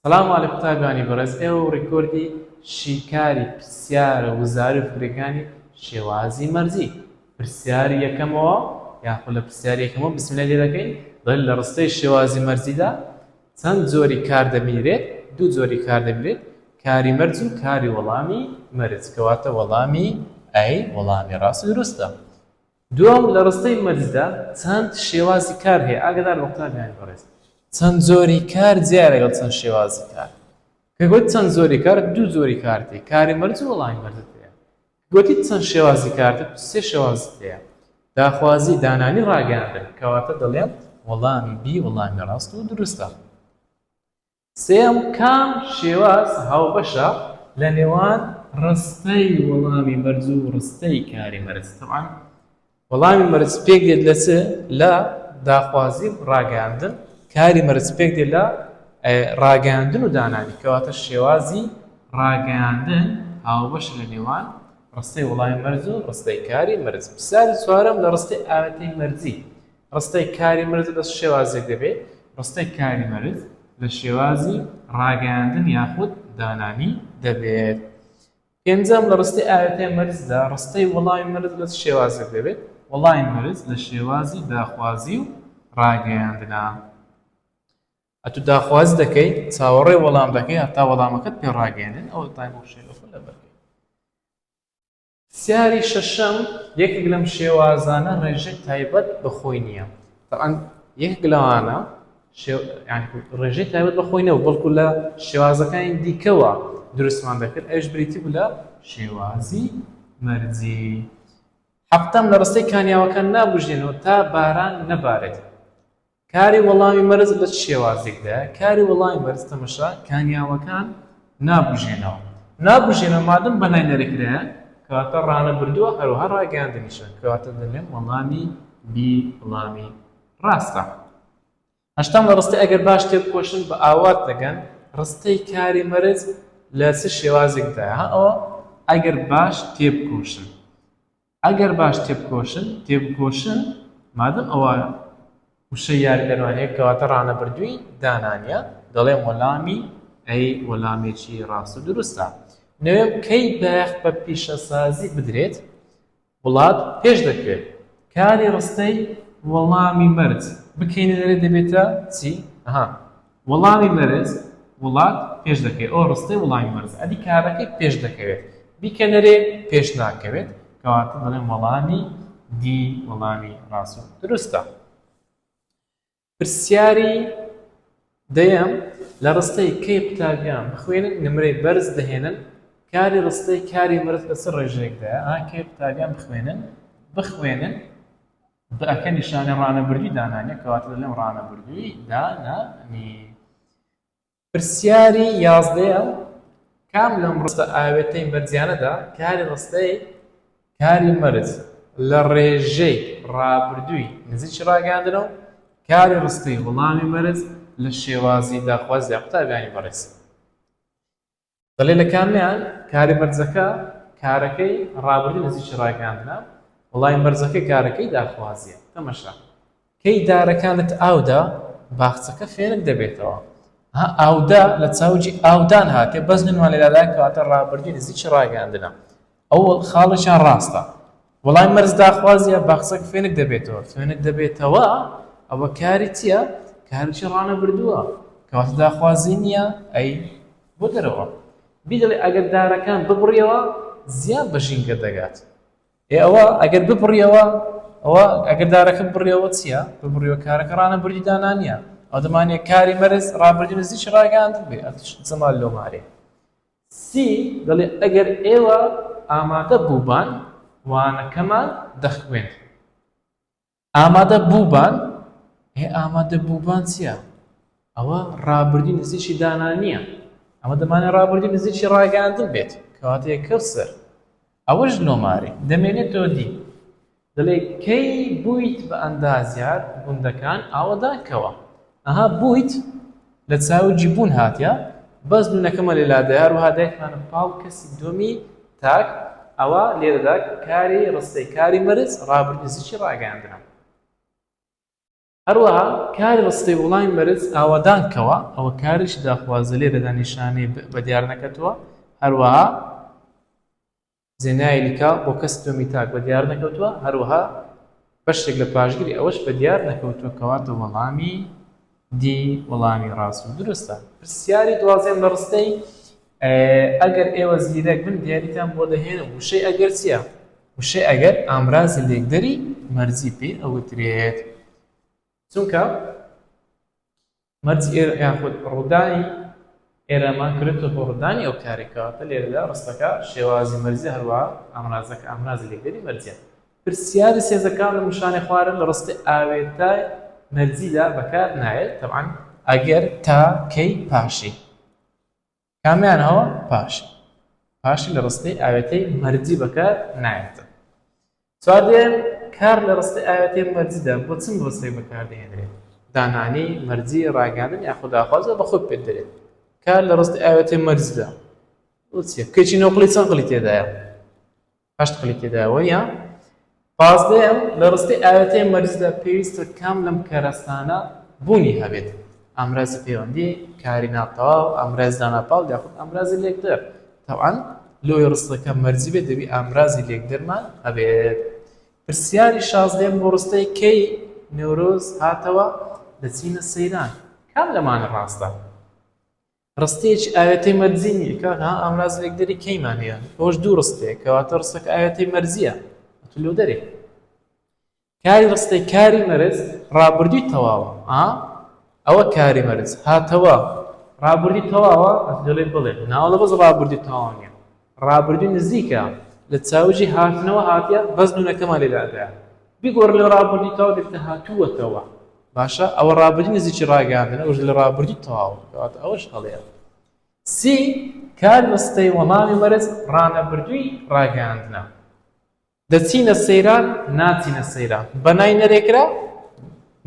سلام علی قوتابیانی بەڕێز ئێوە ڕیکۆردی شیکاری پرسیارە وزاری فکرەکانی شێوازی مەرزی پرسیاری یەکەمەوە یاخود لە پرسیاری یەکەمەوە بسملە لێ دەکەین بەل لە ڕستەی شێوازی مەرزیدا چەند جۆری کار دەبینرێت دوو جۆری کار دەبرێت کاری مەرج و کاری وەڵامی مەرج کەواتە وەڵامی ئەی وەڵامی ڕاست دروستە دووەم، لە ڕستەی مەرجدا چەند شێوازی کار هەیە؟ ئاگادار بە قوتابیانی بەڕێز، چەند جۆری کار جیایە لەگەڵ چەند شێوازی کار. کە گوت چەند جۆری کار، دوو جۆری کارت هەیە، کاری مەرج و وەڵامی مەرجت هەیە. کە گوتیت چەند شێوازی کارت، سێ شێوازت هەیە، داخوازی، دانانی، ڕاگەیاندن. کەواتە دەڵێم وەڵامی بی وەڵامی ڕاست و دروستە. سێیەم، کام شێواز هاوبەشە لەنێوان ڕستەی وەڵامی مەرج و ڕستەی کاری مەرج؟ تەبعەن وەڵامی مەرج پێک دێت لە چ؟ لە داخوازی و ڕاگەیاندن، کاری مەرج پێک دێت لە ڕاگەیاندن و دانانی، کەواتە شێوازی ڕاگەیاندن هاوبەشە لەنێوان ڕستەی وەڵامی مەرج و ڕستەی کاری مەرج. پرسیاری چوارەم، لە ڕستەی ئاوێتەی مەرجی ڕستەی کاری مرز لە چ شێوازێک دەبێ؟ ڕستەی کاری مرز لە شێوازی ڕاگەیاندن یاخود دانانی دەبێت. پێنجەم لە ڕستەی ئاوێتەی مرزدا ڕستەی وەڵامی مرز لە چ شێوازێک دەبێت؟ وەڵامی مرز لە شێوازی داخوازی و ڕاگەیاندنە. ئەتو داخواز دەکەی چاوەڕێ وەڵام دەکەی هەتا وەڵامەکەت پێ ڕاگەیەنن ئەو تایم بۆ شێلەخۆ لەبەر پرسیاری شەشەم، یەکێک لەم شێوازانە ڕێژەی تایبەت بە خۆی نییە. تەبعەن یەکێک لەوانە شێو یانی ڕێژەی تایبەت بە خۆی نەبوو، بەڵکو لە شێوازەکانی دیکەوە دروستمان دەکرد، ئەویش بریتی بوو لە شێوازی مەرجی. هەفتەم، لە ڕستەی کانیاوەکان نابوژێنەوە تا باران نەبارێت. کاری وەڵامی مەرز لە چ شێوازێکدایە؟ کاری وەڵامی مەرز تەمەشا کانیاوەکان نابوژێنەوە. نابوژێنەوە مادەم بەلای نەرێکرایە کەواتە ڕانەبردووە هەروەها ڕاگەیاندنیشە کەواتە دەلێم وەڵامی بی وڵامی ڕاستە. هەشتام لە ڕستەی ئەگەر باش تێبکۆشن بە ئاوات دەگەن ڕستەی کاری مەرز لە چ شێوازێکدایە؟ ها ئەوە ئەگەر باش تێبکۆشن. ئەگەر باش تێبکۆشن، تێبکۆشن، مادەم ئەوە وشەی یاریدەرمانییە، کەواتە ڕانەبردووی دانانییە، دەڵێم وەلامی ئەی وەلامێکی ڕاست و دروستە. نۆیەم، کەی بایەخ بە پیشەسازی بدرێت، وڵات پێش دەکەوێت. کاری ڕستەی، وەڵامی مەرج، بکەینە دەرێ دەبێتە چی؟ ئەها. وڵامی مەرز وڵات پێش دەکەوێت ئەوە ڕستەی وڵامی مەرزە ئەدی کارەکەی پێش دەکەوێت بیکەنەرێ پێش ناکەوێت کەواتە دەڵێن وەڵامی دی وەڵامی ڕاست و دروستە پرسیاری دەیەم لە ڕستەی کەی قوتابیان بخوێنن نمرەی بەرز دەهێنن کاری ڕستەی کاری مرز بەسەر ڕێژێکدا ئاکەی قوتابیان بخوێنن بخوێنن دە کە نیشانەی ڕانەبردووی دانانیە کەواتە دەڵێم ڕانەبردووی دانانی. پرسیاری یازدەیەم، کام لەم ڕستە ئاوێتەی مەرجیانەدا کاری ڕستەی کاری مەرج لە ڕێژەی ڕابردووی نزیکی ڕاگەیاندنە و کاری ڕستەی وڵامی مەرج لە شێوازی داخوازی قوتابیانی بەڕێز. دەڵێت لە کامیان کارە بەرزەکە کارەکەی ڕابردووی نزیکی ڕاگەیاندنە وەڵامی بەرزەکەی کارەکەی داخوازییە تەمەشا کەی دارەکانت ئاودا باخچەکە فێنک دەبێتەوە ها ئاودا لە چاوجی ئاودان هاتێ بەس منوان لێراداکەواتە ڕابردووی نزیکی ڕاگەیاندنە ئەوڵ خاڵێکیان ڕاستە. وەڵای مەرز داخوازیە باقسەک فێنک دەبێتەوە فێنک دەبێتەوە ئەوە کاری چیە کارچی ڕانەبردووە کەواتە داخوازی نیە ئەی بۆ دەرەوە بیدەڵێ ئەگەر دارەکان ببڕیەوە زیان بە ژینگە دەگات ئێ ئەوە ئەگەر ببڕیەوە ئەوە ئەگەر دارەکە بڕیەوە چیە ببڕیەوە کارەکە ڕانەبردی دانانیە ئەو دەمانێ کاری مەرز ڕابردی نزیکی ڕاگەاند بێ ئەتش زەمال لۆمارێ سی دەڵێ ئەگەر ئێوە ئامادە بووبان وانەکەمان دەخوێند. ئامادە بووبان ئێ ئامادە بووبان چییە؟ ئەوە ڕابردی نزیکی دانا نییە ئەمە دەمانێ ڕابردی نزیکی ڕاگەاندن بێت کەواتەیە کەوسەر ئەوەش نۆمارێ دەمێنێتەوە دی دەڵێ کەی بوویت بە ئەندازیار گوندەکان ئاوەدان کەوە ئەها بوویت لە چاوجی بوون هاتیە بەس نونەکەمە لە لادەیار وها دایکمانە پاڵ کەسی دووەمی تاک ئەوە لێرەدا کاری ڕستەی کاری مەرز ڕابردی زیچی ڕاگەیاندنە. هەروەها کاری ڕستەی وڵامی بەرز ئاوادان کەوە ئەوە کارێکی داخوازە لێرەدا نیشانەی ب بە دیار نەکەتووە هەروەها زێنای لکا بۆ کەس تۆمی تاک بە دیار نەکەوتووە هەروەها بەشێک لە پاشگری ئەوەش بە دیار نەکەوتووە کەواتە وەڵامی دی وەڵامی ڕاست و دروستە پرسیاری دوازدەیەم لە ڕستەی ئەگەر ئێوە زیرەک بن دیاریتان بۆ دەهێنم وشەی ئەگەر چییە؟ وشەی ئەگەر ئامرازی لێکدەری مەرجی پێ ئەوترێت چونکە مەرجی ئێرە یاخود ڕوودانی ئێرەمان کرێتە بۆ ڕوودانی ئەو کارێکەوەتە لێرەدا ڕستەکە شێوازی مەرجی هەروە ئامرازەکە ئامرازی لێکدەری مەرجە پرسیاری سێزەکان لە مشانە خوارن لە ڕستی ئاوێتای مەرجیدا بەکار نایێت تەعاان ئەگەر تا کەی پاشی کامیان هەوە پاشی پاشی لە ڕستەی ئاوێتەی مەرجی بەکار نایەتە چوار دێن کار لە ڕستەی ئاوێتەی مەرجیدا بۆ چم ڕستەی بەکاردێنرێت دانانی مەرجی ڕاگەاندن یاخود داخوازە بە خود پێت دەێت کار لە ڕستی ئاوێتەی مەرجدا کەچی نۆقلی چەند قلی تێدایە هەشت قلیکی داوە یا پازدەیەم، لە ڕستەی ئاوێتەی مەریزدا پێویستە کام لەم کەرەستانە بوونی هەبێت، ئامرازی پەیوەندی، کاری ناتەواو، ئامرازی داناپاڵ یاخود ئامرازی لێکدەر، تەبعەن لۆی ڕستەکە مەرجی بێت دەبی ئامرازی لێکدەرمان هەبێت. پرسیاری شازدەیەم بۆ ڕستەی کەی نەورۆز هاتەوە دەچینە سەیران کام لەمانە ڕاستە؟ ڕستەیەکی ئاوێتەی مەرجی نییە کاکە ها ئامراز لێکدەری کەیمان هەیە ئەوەش دوو ڕستەیە کەواتە ڕستەکە ئاوێتەی مەرجییە ئەتوو لێو دەرێ کاری ڕستەی کاری مەرج ڕابردووی تەواوە ئا ئەوە کاری مەرج هاتەوە ڕابردی تەواوە ئەتوو دەڵێ بڵێ ناوەڵە بەس ڕابردی تەواو نییە ڕابردووی نزیکە لە چاوجی هاتنەوە هاتیە بەس نونەکەمان لێ دادایە بیگۆڕن لە ڕابردووی تەواو لێرتە هاتووەتەوە باشە ئەوە ڕابردووی نزیکی ڕاگەیاندنە ئەوش لە ڕابردووی تەواو کەواتە ئەوەش هەڵەیە سی کار مەستەی وەڵامی مەرز ڕانەبردووی ڕاگەیاندنە دەچینە سەیران ناچینە سەیران بەنای نەرێکرا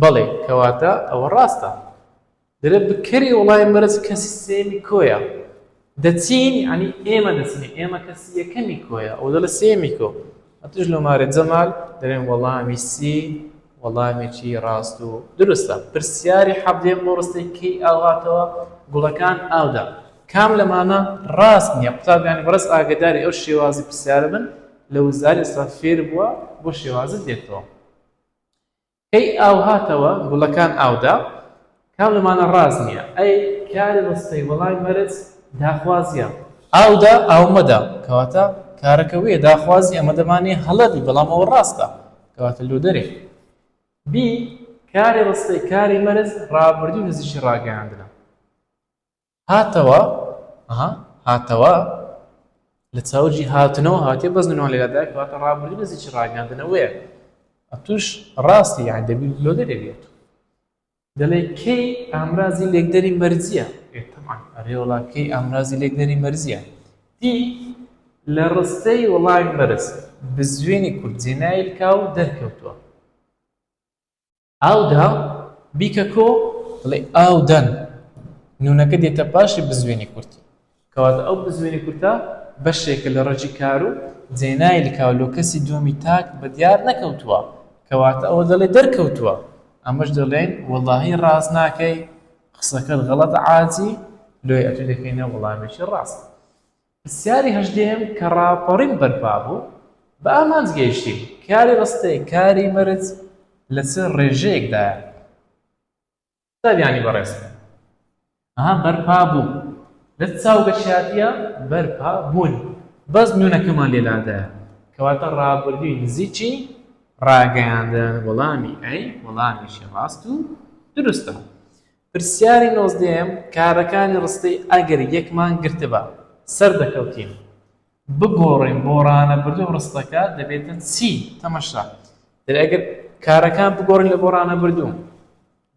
بەڵێ کەواتە ئەوە ڕاستە درە بکەری وڵای مەرز کەسی سێمی کۆیە دەچین عنی ئێمە دەچین ئێمە کەسی یەکەمی کۆیە ئەو دەڵە سێمی کۆ ئەتوش لە مارێ جەمال دەێن وەڵامی سی وەڵامێکی ڕاست و دروستە پرسیاری حەبدێن بۆ ڕستەی کەی ئاوهاتەوە گوڵەکان ئاودا کام لەمانە ڕاست نییە قوتابیانی بەڕست ئاگداری ئەو شێوازی پرسیارە بن لە وزار ئێستا فێر بووە بۆ شێوازت دێتەوە کەی ئاو هاتەوە گوڵەکان ئاودا کام لەمانە ڕاز نییە ئەی کاری ڕستەی وەڵای مەرز داخوازیە ئاودا ئاومەدا کەواتە کارەکە وێ داخوازی ئەمە دەمانێ هەڵەبی بەڵام ئەوە ڕاستە کەواتە لۆ دەرێ بی کاری ڕستەی کاری مەرز ڕابردوو نزیشی ڕاگەیاندنە هاتەوە ها هاتەوە لە چاوجی هاتنەوە هاتێ بەس نوێنەوە لێرە دایک واتە ڕابردوو لە زیچی ڕاگەاندنەوەیە ئەتوش ڕاستی یان دەبی لۆ دەرێ بێت دەڵێ کەی ئامرازی لێکدەری مەرزیە تەمان ئەرێوەڵا کەی ئامرازی لێکدەری مەرزیە دی لە ڕستەی وڵای مەرز بزوێنی کورد جێنایلکا و دەرکەوتووە ئاو دا، بیکە کۆ، بڵێ ئاو دەن. نوونەکە دێتە پاشی بزوێنی کورتی. کەواتە ئەو بزوێنی کورتە بەشێکە لە ڕەگی کار و جێنای لکاو لۆ کەسی دووەمی تاک بە دیار نەکەوتووە. کەواتە ئەوە دەڵێ دەرکەوتووە. ئەمەش دەڵێین وەڵاهی ڕاست ناکەی، قسەکەت غەڵەتە عاجی، لۆیە ئەتوو دەکەینە وەڵامێکی ڕاست. پرسیاری هەژدەیەم کە ڕاپەڕین بەرپا بوو، بە ئامانج گەیشتین، کاری ڕستەیە، کاری مەرج لە چ ڕێژەیەکدایە؟ قوتابیانی بەڕێز، ئەها بەرپا بوو، لە چ چاوگەشیاتیە بەرپا بوون؟ بەس نوونەکەمان لێ لادایە، کەواتە ڕابردووی نزیکی ڕاگەیاندن، وەڵامی ئەی، وەڵامیشی ڕاست و دروستە. پرسیاری نۆزدەیەم، کارەکانی ڕستەی ئەگەر یەکمان گرتبا سەردەکەوتین؟ بگۆڕین بۆ ڕانەبردوو ڕستەکە دەبێتە چی؟ تەمەشا، دەبێت ئەگەر کارەکان بگۆڕین لە بۆ ڕانەبردوو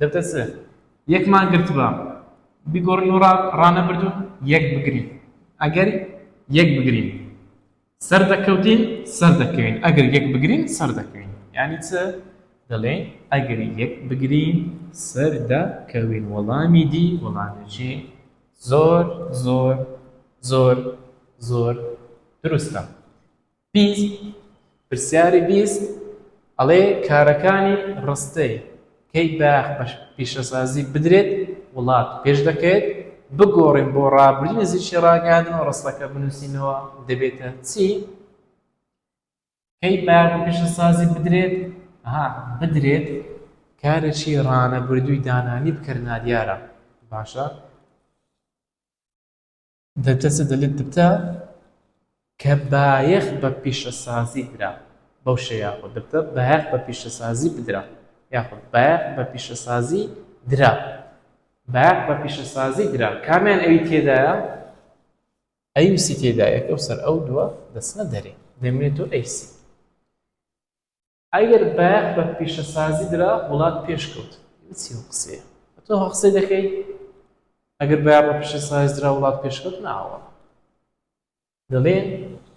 دەبێتە چ؟ یەکمان گرتبا بیگۆڕین بۆ ڕانەبردوو یەک بگرین ئەگەر یەک بگرین. سەردەکەوتین سەردەکەوین ئەگەر یەک بگرین سەردەکەوین یانی چ دەڵێین ئەگەر یەک بگرین سەردەکەوین وەڵامی دی وەڵامێکی زۆر زۆر زۆر زۆر دروستە بیست پرسیاری بیست ئەڵێ کارەکانی ڕستەی کەی باخ بە پیشەسازی بدرێت وڵات پێش دەکەوێت، بگۆڕین بۆ ڕابردووی نزیکی ڕاگەیاندن و ڕستەکە بنووسینەوە دەبێتە چی؟ کەی باخ بە پیشەسازی بدرێت؟ ها بدرێت کارێکی ڕانەبردووی دانانی بکەرنادیارە باشە؟ دەرجەچە دەلێت دبتە کە بایەخ بە پیشەسازی درا بەو شێ یاخود دبتە بایەخ بە پیشەسازی بدرا یاخود بایەخ بە پیشەسازی درا بایەخ بە پیشەسازی درا کامیان ئەوی تێدایە ئەیوسی تێدایەکە و سەر ئەو دووە دەسنە دەرێ دەمێت و ئەیسی ئەگەر بایەخ بە پیشەسازی درا وڵات پێشکەوت چی قسەیە تۆ قسەی دەکەی ئەگەر بایەخ بە پیشەسازی درا وڵات پێشکەوت ناوە دەڵێن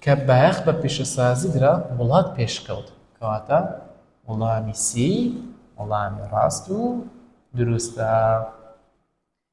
کە بایەخ بە پیشەسازی درا وڵات پێشکەوت کەواتە وڵامی سی وڵامی ڕاست و دروستە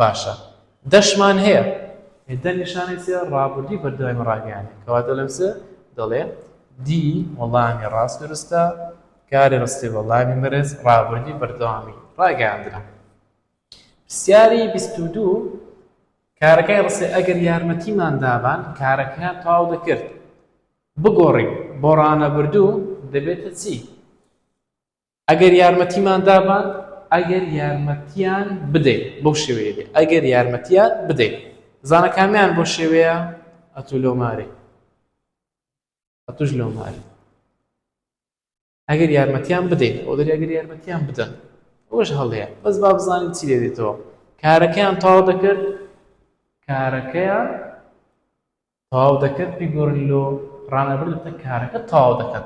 باشە دەشمان هەیە هێدە نیشانەی چیە ڕابوردی بەردەوامی ڕاگەیانێ کەواتە لەم سێ دەڵێ دی وەڵامی ڕاست دروستە کاری ڕستی وەڵامی مەرز ڕابوردی بەردەوامی ڕاگەیاندرا پرسیاری بیست و دوو کارەکەی ڕسێ ئەگەر یارمەتیمان دابان کارەکەیان تەواو دەکرد بگۆڕین بۆ ڕانەبردوو دەبێتە چی ئەگەر یارمەتیمان دابان. ئەگەر یارمەتیان بدەین. بەو شێوەیە بێ ئەگەر یارمەتیان بدەین. بزانە کامیان بۆ شێوەیە ئەتوو لۆ مارێ ئەتوش لۆ مارێ ئەگەر یارمەتیان بدەین ئەو دەری ئەگەر یارمەتیان بدەن ئەوش هەڵەیە بەس با بزانین چی لێ دێتەوە کارەکەیان تاوا دەکرد کارەکەیان تەواو دەکەن بیگۆرن لۆ ڕانەبەر دەتە کارەکە تەواو دەکەن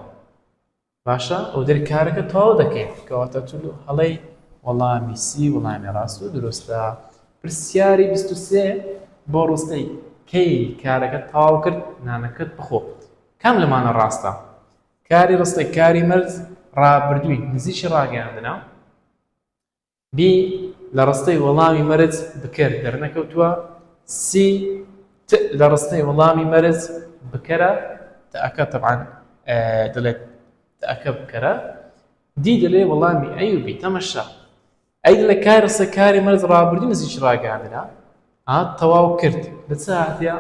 باشە ئەو دەر کارەکە تەواو دەکەیت کەواتە تو لۆ هەڵەی وەڵامی سی وەڵامی ڕاست و دروستە پرسیاری بیست و سێ بۆ ڕستەی کەی کارەکە تەواو کرد نانەکەت بخۆ کام لەمانە ڕاستە کاری ڕستەی کاری مەرز ڕابردووی نزیکی ڕاگەیاندنە بی لە ڕستەی وەڵامی مەرج بکەر دەرنەکەوتووە سی ت لە ڕستەی وەڵامی مەرج بکەرە، تەکە تەبعەن دەڵێت تەکە بکەرە، دی دەڵێ وەڵامی ئەی و بی تەمەشا ئەی دەڵێ کای ڕستە کاری مەرج ڕابردوو نزیکی ڕاگەیاندنە ئا تەواو کرد لە چ هاتیە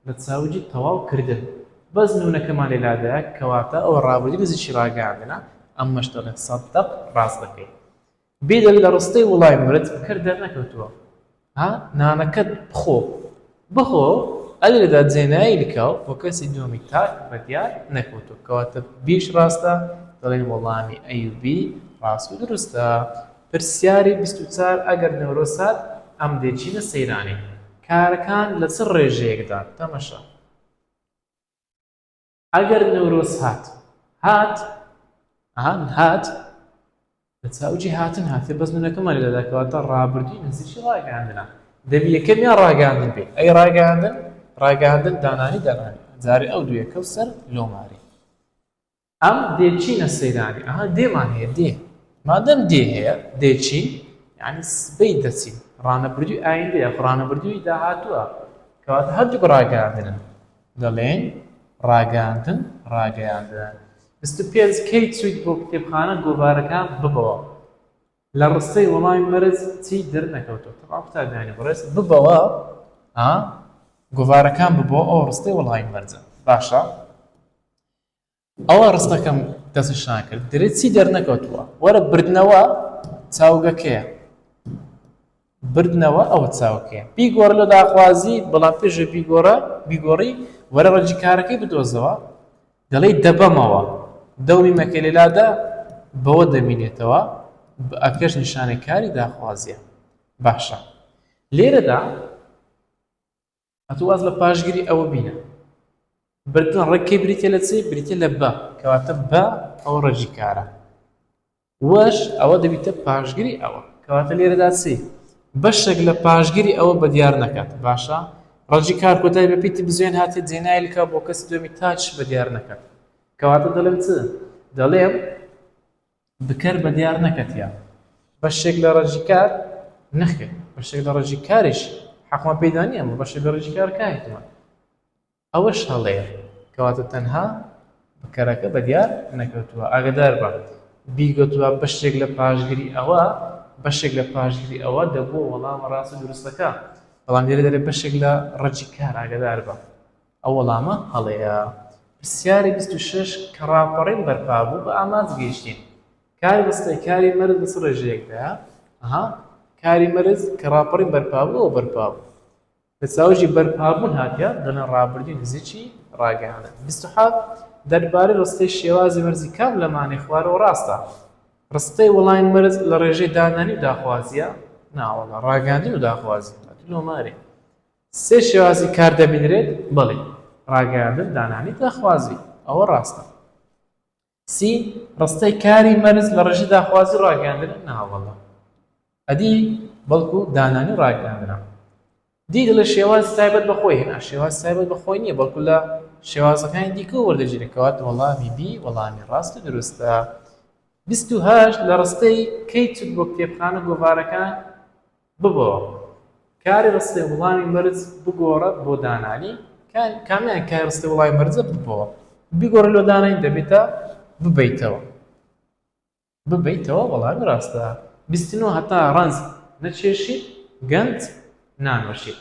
لە چاوجی تەواو کردن بەس نوونەکەمان لێ لادایە کەواتە ئەوە ڕابردوو نزیکی ڕاگەیاندنە ئەمەش دەڵێن سەدەق ڕاست دەکەی بیدەن لە ڕستەی وڵای مرد بکەر دەرنەکەوتووە ها نانەکەت بخۆ بخۆ ئەلی لە دادزێنایی لکاو بۆ کەسی دووەمی تاک ڕێدیار نەکەوتووە کەواتە بیش ڕاستە دەڵێن وەڵامی ئەیوبی ڕاست و دروستە پرسیاری بیست و چار ئەگەر نەورۆز هات ئەم دێچینە سەیرانی کارەکان لە چ ڕێژەیەکدان تەمەشا. ئەگەر نەورۆز هات هات ئەها هات لە چاوجی هاتن هاتێ بەس منەکەمان لە دەکەواتە ڕابردووی نزیکی ڕاگەاندنا دەبی یەکەم یا ڕاگەاندن بێت ئەی ڕاگەاندن ڕاگەاندن دانانی دەنانی جارێ ئەو دوێ کەو سەر لۆماری ئەم دێچینە سەیرانی ئەها دێمان هەیە دێ مادەم دێ هەیە دێچین یعنی سبەی دەچین ڕانەبردووی ئایندەیە ڕانەبردووی داهاتووە کەواتە هەردوو ڕاگەاندنن دەڵێین ڕاگەیاندن، ڕاگەیاندن. بیست و پێنج کەی چوویت بۆ کتێبخانە گۆڤارەکان ببەوە لە ڕستەی وەڵامی مەرج چی دەرنەکەوتووە تەواو قوتابیانی بەڕێز ببەوە ها گۆڤارەکان ببەوە ئەوە ڕستەی وەڵامی مەرجە باشە ئەوا ڕستەکەم دەستنیشان ناکرد گرێ چی دەرنەکەوتووە وەرە بردنەوە چاوگەکەیە بردنەوە ئەوە چاوکەیە بیگۆڕ لە داخوازی بەڵام پێشە بیگۆڕە بیگۆڕی وەرە ڕەجی کارەکەی بدۆزەوە دەڵی دەبەمەوە دەومی مەکە لێلادا بەوە دەمینێتەوە ئەکەش نیشانەی کاری داخوازیە باشە لێرەدا ئەتوو واز لە پاشگری ئەوە بینە بردن ڕێکەی بریتە لە چی بریتە لە بە کەواتە بە ئەوە ڕێژی کارە وەش ئەوە دەبیتە پاشگری ئەوە کەواتە لێرەدا چی بەشێک لە پاشگری ئەوە بە دیار نەکات باشە ڕەجی کار کۆتای بە پیتی بزوێن هاتێ جێنایلکە بۆ کەس دوێمی تاچ بە دیار نەکات کەواتە دەڵێم چ دەڵێم بکەر بە دیار نەکەتیە. بەشێک لە ڕەجی کار نەخێر بەشێک لە ڕەجی کاریش حەقمان پێیدا نیە ئەمە بەشێک لە ڕەجی کار کاهتمە ئەوەش هەڵەیە کەواتە تەنها بکەرەکە بە دیار نەکەوتووە ئاگدار بە بیگوتوە بەشێک لە پاشگری ئەوە بەشێک لە پاشگری ئەوە دەبووە وەڵامە ڕاستە دروستەکە بەڵام لێرە دەرێ بەشێک لە ڕەجی کار ئاگدار بە. ئەو وەڵامە هەڵەیە. پرسیاری بیست و شەش کە ڕاپەڕین بەرپا بوو بە ئامانج گەیشتین. کار بەسڕی کاری مەرز بە چ ڕێژەیەکدایە؟ ئەها کاری مەرز کە ڕاپەڕین بەرپا بوو ئەوە بەرپا بوو. لە چاوژی بەرپا بوون هاتیە دەنا ڕابردووی نزیکی ڕاگەیاندن. بیست و حەڤ دەربارەی ڕستەی شێوازی مەرزی کام لە مانای خوارەوە ڕاستە؟ ڕستەی وەڵامی مەرز لە ڕێژەی دانانی و داخوازییە؟ ناوەڵا ڕاگەیاندن و داخوازی. ئەتوو نۆمارێ. سێ شێوازی کار دەبینرێت بەڵی ڕاگەیاندن دانانی داخوازی ئەوە ڕاستە سی ڕستەی کاری مەرز لە ڕژی داخوازی ڕاگەیاندن ناوەڵە ئەدی بەڵکو دانانی ڕاگەیاندرا دی دەڵێ شێواز تایبەت بەخۆی هێنا شێواز تایبەت بەخۆی نییە بەڵکو لە شێوازەکانی دیکە وەردەگیرێکەوەات وەڵامی بی وەڵامی ڕاست و دروستە هەشت لە ڕستەی کەی چوت بۆ کتێبخانە گۆڤارەکان ببەوە کاری ڕستەی وڵامی مەرج بگۆڕە بۆ دانانی کامیان کاری ڕستەی وڵامی مەرجە ببەوە بیگۆڕە لۆ دانانی دەبێتە ببەیتەوە ببەیتەوە وەڵامی ڕاستە بیستنەوە هەتا ڕەنج نەچێشی گەنج نانۆشی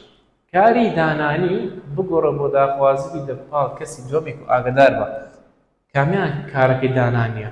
کاری دانانی بگۆڕە بۆ داخوازی لە پاڵ کەسی دووەمێک و ئاگدار بە کامیان کارەکەی دانانیە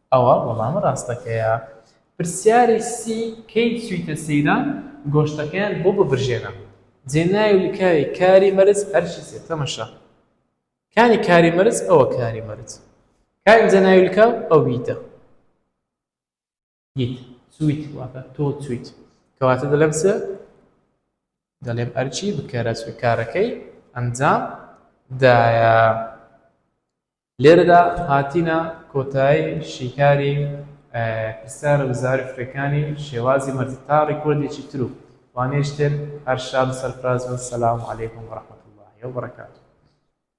ئەوە وەڵامە ڕاستەکەیە. پرسیاری سی، کەی چویتە سەیران گۆشتەکەیان بۆ ببرژێنە جێ ناوی لکاوی کاری مەرج ئەرکی سێ تەمەشا کانی کاری مەرج ئەوە کاری مەرج کا ئینجا ناوی لکاو ئەویتە یت چویت واتە تۆ چویت کەواتە دەلێم سێ دەلێم ئەرکی بکەرە چوی کارەکەی ئەنجام دایە لێرەدا هاتینە کۆتایی شیکاری پرسیارە وزاری فرەکانی شێوازی مەرزی تا ڕیکۆردێکی تر و وانەیش تر هەر شاد و سەرفراز بن سلام علیکم و رحمت اللە و برکاته.